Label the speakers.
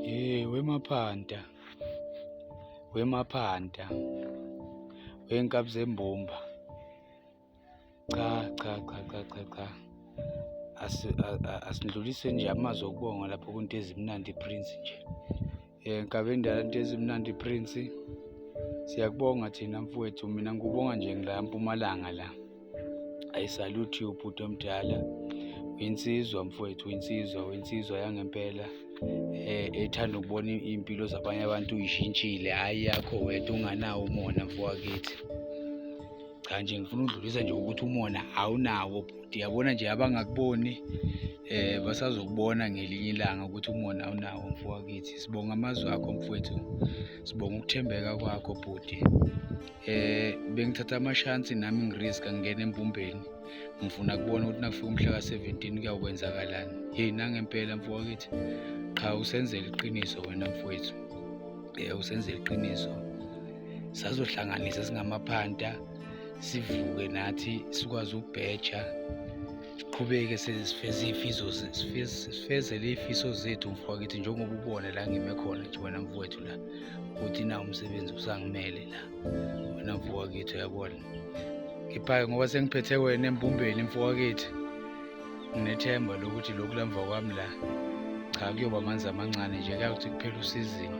Speaker 1: Eh wemaphanda. Wemaphanda. Wenkabi zembumba. Cha cha cha cha cha cha. Asindlulise nje amazwi okubonga lapho kunto ezimnandi Prince nje. Eh nkabe endala into ezimnandi Prince. Siyakubonga thina mfowethu mina ngikubonga nje ngila mpumalanga la. I salute you bhuti omdala uyinsizwa mfowethu uyinsizwa uyinsizwa yangempela eh ethanda ukubona impilo zabanye abantu uyishintshile hayi yakho wedwa unganawo umona mfowakithi cha nje ngifuna ukudlulisa nje ukuthi umona awunawo bhuti yabona nje abangakuboni eh basazokubona ngelinye ilanga ukuthi umona awunawo mfowakithi sibonga amazwi akho mfowethu sibonga ukuthembeka kwakho bhuti eh bengithatha amashansi nami ngirisk angena empumbeni ngifuna kubona ukuthi nakufika umhla ka-17 kuyawukwenzakalani heyi nangempela mfowakithi qha usenzela iqiniso wena mfowethu eh usenzela iqiniso sazohlanganisa singamaphanta sivuke nathi sikwazi ukubheja siqhubeke sifeze ifiso sifeze lefiso zethu mfowethu njengoba ubone la ngime khona nje wena mfowethu la ukuthi na umsebenzi usangimele la wena mfowethu yabona ngiphake ngoba sengiphethe wena embumbeni mfowethu nginethemba lokuthi lokhu lamva kwami la cha kuyoba amanzi amancane nje kuyakuthi kuphela usizini